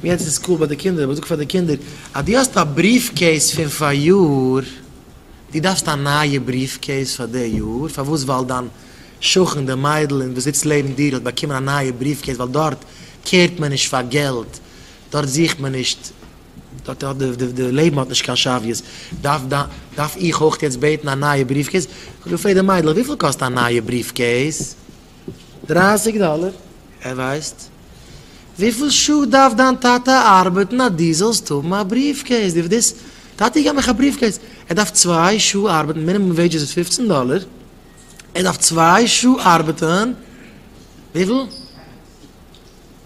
יעצט איז סקול ביי די קינדער אבער זאג פאר די קינדער אז דו האסט א בריעף קעיס פון פאריאר דו דארפסט א נייע בריעף קעיס פאר די יאר פארוואס ווייל דיין שכן די מיידל און וואס זיצט לעבן דיר האט באקומען א נייע בריעף קעיס ווייל דארט קעירט מען נישט פאר געלט דארט זוכט מען נישט דארט האט די לעבן האט נישט קיין שוויות דארף דארף איך אויך יעצט בעטן א נייע בריעף קעיס זאג די פרעג די מיידלעך וויפיל קאסט א נייע בריעף קעיס. דרייסיג דאלער, ער ווייסט וויפיל שעה דארף דיין טאטע ארבעטן אז דו זאלסט האבן א בריעף קעיס, דו וועסט, טאטי געב מיך א בריעף קעיס, ער דארף צוויי שעה ארבעטן, מינימום וועידזשעס איז פופצן דאלער, ער דארף צוויי שעה ארבעטן, וויפיל?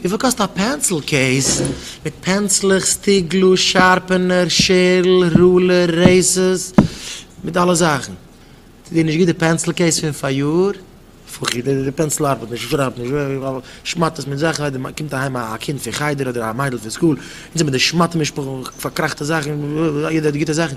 וויפיל קאסט א פענסיל קעיס מיט פענצלעך, סטיגלוס, שארפענער, שערל, רולער, רעיסערס, מיט אלע זאכן? טוט דיר נישט גוט די פענסיל קעיס פון פאריאר? פחי די די פענסיל ארבעט נישט, שרייבט נישט, ווי ווי ווי שמאטעס מיט זאכן, אויב די קומט אהיים א קינד פון חדר אדער א מיידל פון סקול און זי מיט די שמאטע משפחה פארקראכטע זאכן, יעדער האט גוטע זאכן.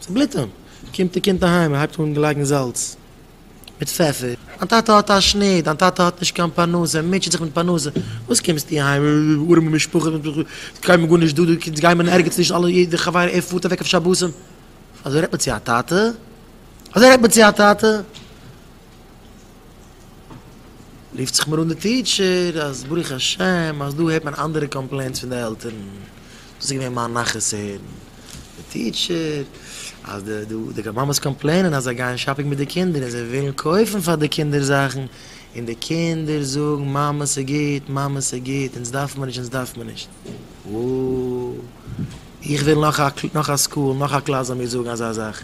צובליטען. קומט די קינד אהיים און הייבט אן געלייגן זאלץ מיט פעפער. דיין טאטע האט א שנור, דיין טאטע האט נישט קיין פרנסה, ער מוטשעט זיך מיט פרנסה, וואס קומסטו אהיים, ארעמע משפחה, ס'איז קיינמאל גארנישט דא, אונז גייען מיר ערגעץ נישט, אלע יעדע חבר ער פארט אוועק אויף שבתים. אזוי רעדט מען צו א טאטע? אזוי רעדט מען צו א טאטע? רופט זיך מיר אן די טיטשער אז ברוך השם אז דא הערט מען אנדערע קאמפלעינטס פון די עלטערן, דאס איז געווען מיין נחת צו הערן די טיטשער אז די די די מאמעס קאמפלעינען אז זיי גייען שאפינג מיט די קינדער און זיי ווילן קויפן פאר די קינדער זאכן און די קינדער זאגן מאמע ס'גוט, מאמע ס'גוט, אונז דארף מען נישט, אונז דארף מען נישט. וואו איך וויל נאך א נאך א סקול נאך א קלאס זאל מיר זאגן אזא זאך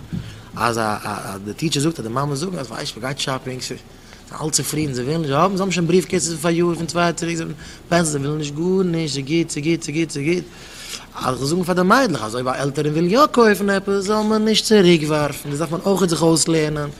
אז אז די טיטשער זאגט אז די מאמעס זאגן אז ווייסט מען גייט שאפינג זיי זענען אלץ צופרידן זיי ווילן נישט האבן זיי האבן שוין בריוו קעיסעס פון פאריאר פון צוויי יאר צוריק זיי האבן פענסעס זיי ווילן נישט גארנישט ס'איז גוט ס'איז גוט ס'איז גוט ס'איז גוט אז כ'זאל זאגן פאר די מיידלעך אז אויב א עלטערין וויל יא קויפן עפעס זאל מען נישט צוריקווארפן דאס דארף מען אויכעט זיך אויסלערנען.